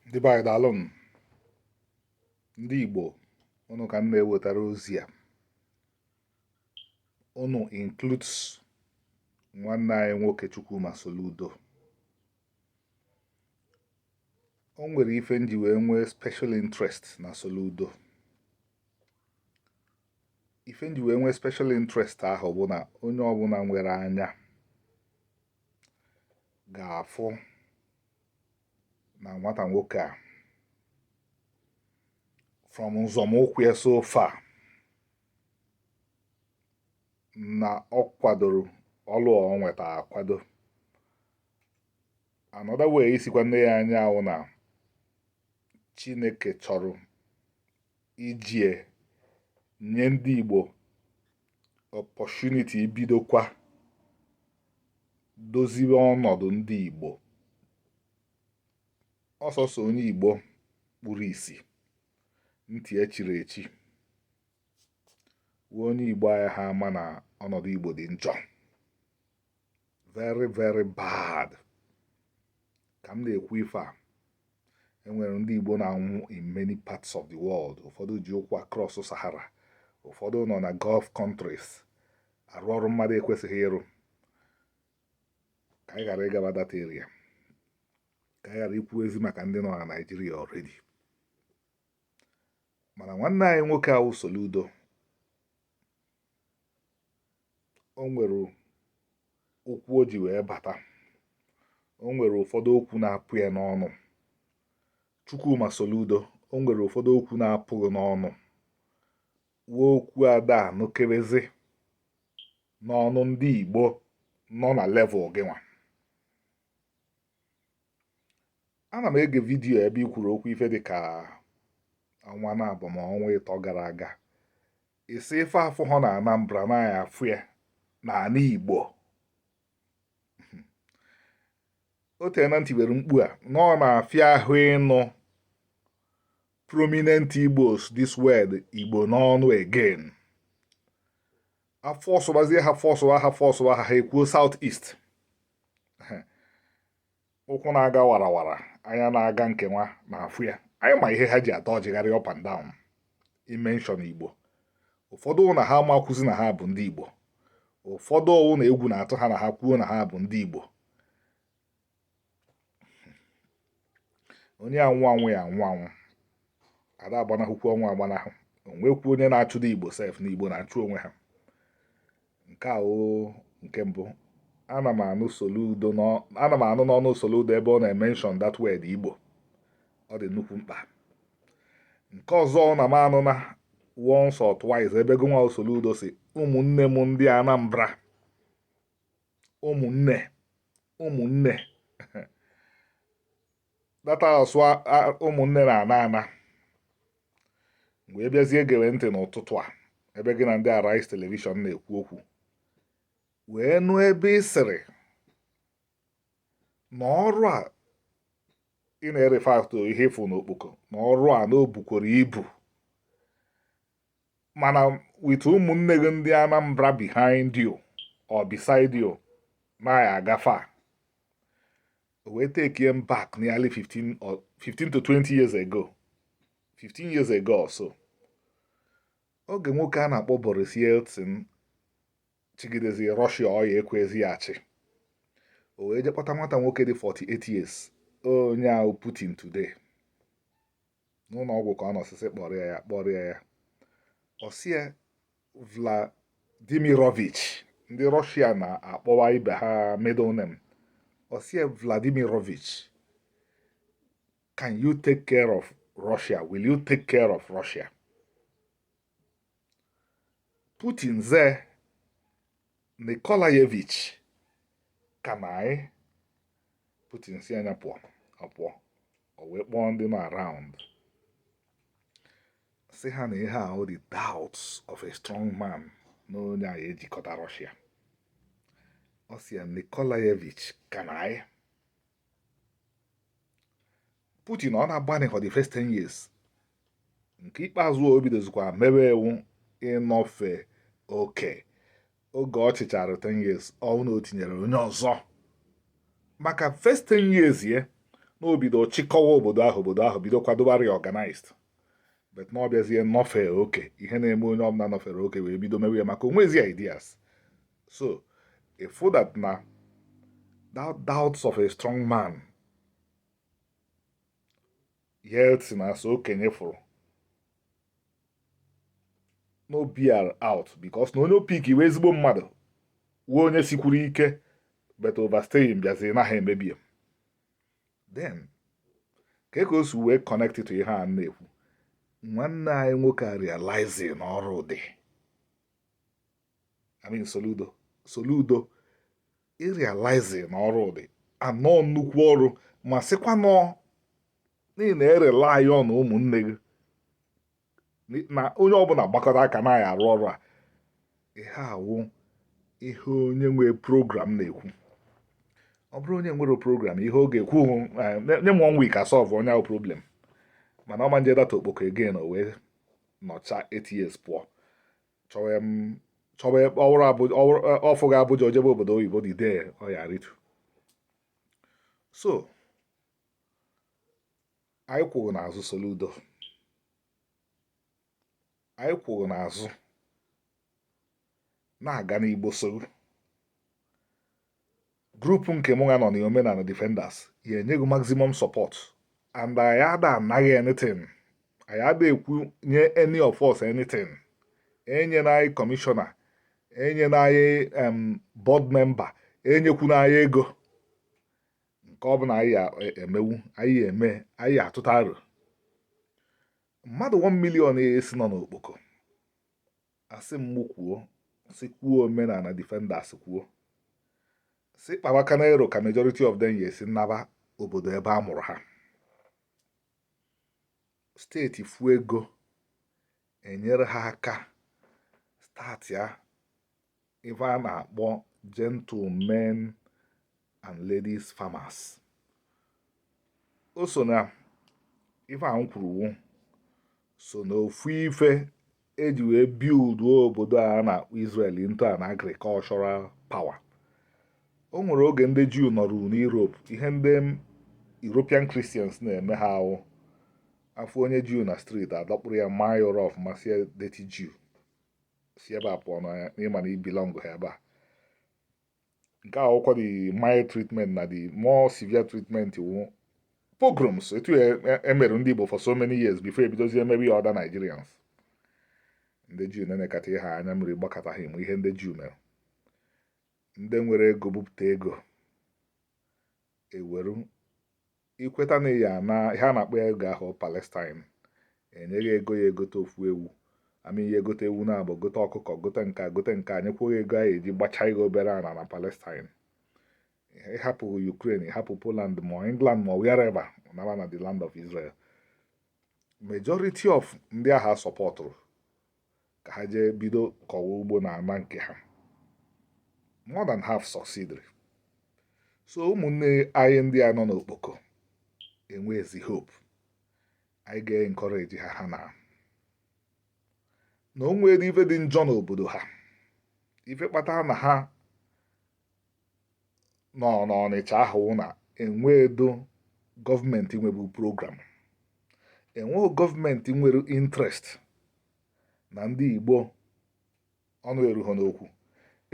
ndị be anyị daalụnụ ndị Igbo ụnụ ka m na-ewetara ozi a ụnụ includes nwanne anyị nwoke Chukwuma Soludo o nwere ife m ji wee nwee special interest na Soludo ife m ji wee nwee special interest ahụ bụ na onye ọbụla nwere anya ga-afụ na nwata nwoke a from nzọmụkwụ ya so far na ọ kwadoro ọlụ o nweta akwado another way isikwa nee ya anya awụ na Chineke chọrọ iji ya nye ndị Igbo opportunity ibidokwa doziwe ọnọdụ ndị Igbo ọ sọsọ onye Igbo kpuru isi ntị echiri echi wụ onye Igbo ayaha ama na ọnọdụ Igbo dị njọ very very bad ka m na-ekwu ife a e nwere ndị Igbo na-anwụ in many parts of the world ụfọdụ ji ụkwụ across Sahara ụfọdụ nọ na Gulf countries arụ ọrụ mmadụ ekwesịghị ịrụ ka anyị ghara ịgaba that area ka anyị ghara ikwuzi maka ndị nọ na Naịjirịa already mana nwanne anyị nwoke awụ Soludo o nwere okwu o ji wee bata o nwere ụfọdụ okwu na-apụ ya n'ọnụ Chukwuma Soludo o nwere ụfọdụ okwu na-apụ gị n'ọnụ wụ okwu ada anụkebezi n'ọnụ ndị Igbo nọ na level gị nwa ana m ege video ebe i kwuru okwu ife dị ka ọnwa naabọ ma ọnwa ịtọ gara aga ị sị ife afụhọ na Anambra na a ya-afụ ya na ala Igbo o teena m tiwere mkpu a na ọ na-afịa ahụ ịnụ prominent Igbos this word Igbo n'ọnụ again a fọsụbazie ha fọsụwa ha fọsụwa ha ha ekwuo South East ụkwụ na-aga warawara anya na-aga nke nwa na-afụ ya anyị ma ihe ha ji adọjigharị up and down ịmention Igbo ụfọdụ wụ na ha amakwazị na ha bụ ndị Igbo ụfọdụ wụ na egwu na-atụ ha na ha kwuo na ha bụ ndị Igbo onye anwụ anwụ ya anwụ anwụ ada agbanahụkwu ọnwụ agbanahụ o nwekwu onye na-achụda igbo sef na igbo na-achụ onwe ha nke a nke mbụ ana m anụ n'ọnụ soludo ebe ọ na-emenshọn that word igbo ọ dị nnukwu mkpa nke ọzọ na m anụ na once or twice ebe gụnwa soludo sị ụmụnne m ndị anambra ụmụnne ụmụnne data asụ ụmụnne na ana ana mgbe m bịazie gewe ntị n'ụtụtụ a ebe gị na ndị Arise television na-ekwu okwu wee nụ ebe ị sịrị na ọrụ a ị na-erefer to ihe ị fụ n'Okpoko na ọrụ a na o bukwuru ibu mana with ụmụnne gị ndị Anambra behind you or beside you na ị ya-agafe o wee take m back nearly 15 or 15 to 20 years ago 15 years ago or so oge nwoke a na-akpọ Boris Yeltsin chigidezi Russia ọya ekwezi ya achị o wee jee kpọta nwata nwoke dị 48 years onye ahụ Putin today n'ụlọ ọgwụ ka ọ nọ sị sị kpọrịa ya kpọrịa ya ọ sị ya Vladimirovich ndị Russia na-akpọwa ibe ha middle name ọ sị ya Vladimirovich can you take care of Russia will you take care of Russia Putin ze Nikolayevich can I Putin si anya pụọ ọ pụọ o wee kpọọ ndị nọ around sị ha na ihe a wụ the doubts of a strong man na onye a ya-ejikọta Russia ọ sị ya Nikolayevich can I Putin ọ na-agbanị for the first 10 years nke ikpeazụ o bidozikwa mewe ewu ịnọfe oke oge ọ chịchara 10 years ọ wụ na o tinyere onye ọzọ maka first 10 years ye na o bido chịkọwa obodo ahụ obodo ahụ bido kwadoba reorganized but na ọ bịazie nọfe oke ihe na-eme onye ọbụla nọfere oke wee bido mewe ya maka o nwezi ideas so ị fụ that na that doubts of a strong man Yeltsin as okenye fụrụ na o bear out because na onye ọ pick wụ ezigbo mmadụ wụ onye sikwuru ike but overstaying bịaziri na ha emebie then ka ka o si wee connect to ihe a na-ekwu nwanne anyị nwoke a realize na ọrụ dị I mean Soludo Soludo ịrealize na ọrụ dị anọ nnukwu ọrụ ma sịkwanụ na ị na-erely on ụmụnne gị na onye ọbụla gbakọta aka na ya arụ ọrụ a ihe a wụ ihe onye nwe program na-ekwu ọ bụrụ onye nwere program ihe ọ ga-ekwu eh, nye m one week asolve onye ahụ problem mana ọ ma njedata Okpoko again o wee nọcha eight years pụọ chọwa ọfụ ga Abuja o jebe obodo oyibo dị dee ọya ritu so anyị kwụrụ n'azụ Soludo anyị kwụrụ n'azụ na-aga n'Igbo so Grupu nke mụ nwa nọ na Omenala Defenders ya-enye gị maximum support and anyị ada ana gị anything anyị ada ekwu nye any of us anything enyena anyị commissioner enyena anyị board member enyekwuna anyị ego nke ọ bụla anyị e, emewu anyị eme anyị atụta aro mmadụ 1 million a sị nọ n'Okpoko asị m mụ kwuo sị kwuo Omenala Defenders kwuo sị kpawa ka a na-ero ka majority of them ya-esi naba obodo ebe a mụrụ ha steeti fu ego enyere ha aka start ya ife a na-akpọ gentlemen and ladies farmers o so na ife a m kwuru so na ofu ife eji wee build obodo a na-akpọ Israel into an agricultural power o nwere oge ndị Juu nọrụ n'Europe ihe ndị European Christians na-eme ha wụ a fụ onye Juu na street adọkpụrụ ya maa ya ụra ọfụma sị ya dirty Juu si ebe a pụọ na ị ma na ị belongụha ebe a nke a wụkwa the mild treatment na the more severe treatment wụ pogroms etu emere e, e ndị Igbo for so many years before ebidozie emebe ya other Nigerians ndị Juu na-enekata ihe anya mmiri gbakata ha ị ma ihe ndị Juu mere ndị nwere ego bupụta ego e weru ị kweta na ị ya-ana ihe a na-akpọ ya oge ahụ Palestine e nye gị ego ị ya-egote ofu ewu ma ị gote ewu naabọ gote ọkụkọ gote nke gote nke a nyekwa gị ego ị ya-eji gbachaa ihe obere ana na Palestine ị hapụ Ukraine ị hapụ Poland ma England ma wherever naa na the land of Israel majority of ndị a ha sọpọtụrụ ka ha jee bido kọwa ugbo na ana nke ha more than half succeeded so ụmụnne anyị ndị a nọ n'okpoko enwezi hope anyị ga-encourage ha ha na na o nwere ife dị njọ n'obodo ha ife kpatara na ha nọ n'ọnịcha ahụ na enweedo gọọmenti nwebu program enweghị gọọmenti nwere interest na ndị igbo ọnụ erughị n'okwu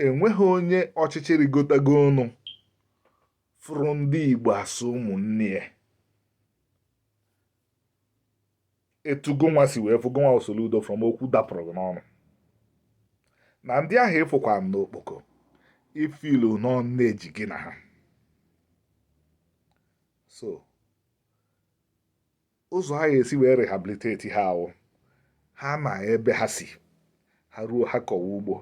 enweghị onye ọchịchị rigotago enu fụrụ ndị igbo as ụmụnne ya etu gụnwa si wee fụ gụnwa Soludo from okwu dapụrụ gị n'ọnụ na ndị ahụ ị fụkwanụ n'okpoko ị feel na nne ji gị na ha so ụzọ a ya-esi wee rehabilitate ha ahụ ha na ebe ha si ha ruo ha kọwa ugbo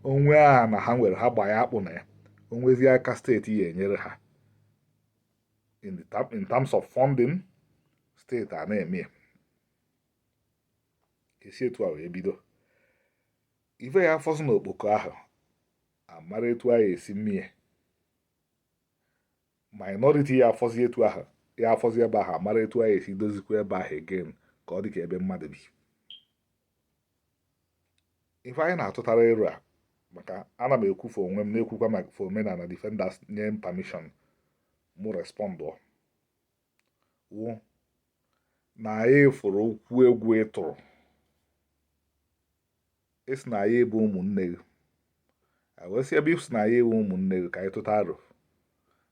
o nwee ana ha nwere ha gbaa ya akpụ na ya o nwezie aka steeti ya enyere ha in, the term, in terms of funding steeti a na-eme ya e si etu a wee bido ife ya afọzi na okpoko ahụ a mara etu a ya esi mee minority ya afọzi etu ahụ ya afọzi ebe ahụ a mara etu a ya esi dozikwa ebe ahụ again ka ọ dị ka ebe mmadụ bi ife anyị na-atụtara ero a maka ana m ekwu for onwe m na-ekwukwa maka for omenala defenders nye m permission mụ respond wụ na anyị fụrụ okwu gị ị tụrụ ị sị na anyị bụ ụmụnne gị wee sị ebe ị sị na anyị wụ ụmụnne gị ka anyị tụta aro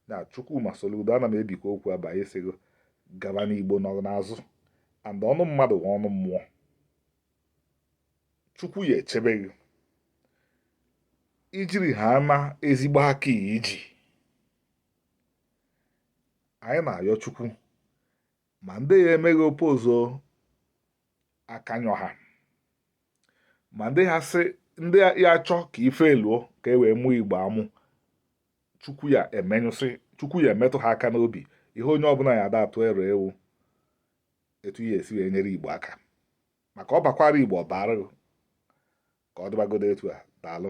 na Chukwuma Soludo ana m ebikwa okwu ebe a anyị sị gị gaba na Igbo nọ n'azụ and ọnụ mmadụ wụ ọnụ mmụọ Chukwu ya echebe gị i jiri ha na ezigbo aka i ji anyị na-ayọ Chukwu ma ndị ya eme gị oppose akanyọ ha ma ndị ha sị ndị ya achọ ka ife luo ka e wee mụọ igbo amụ chukwu ya emenyụsị chukwu ya emetụ ha aka n'obi ihe onye ọbụla ya ada atụ ero wụ etu ya esi wee nyere igbo aka maka ọ bakwara igbo ọ bara ka ọ dịbagodo etu a daalụ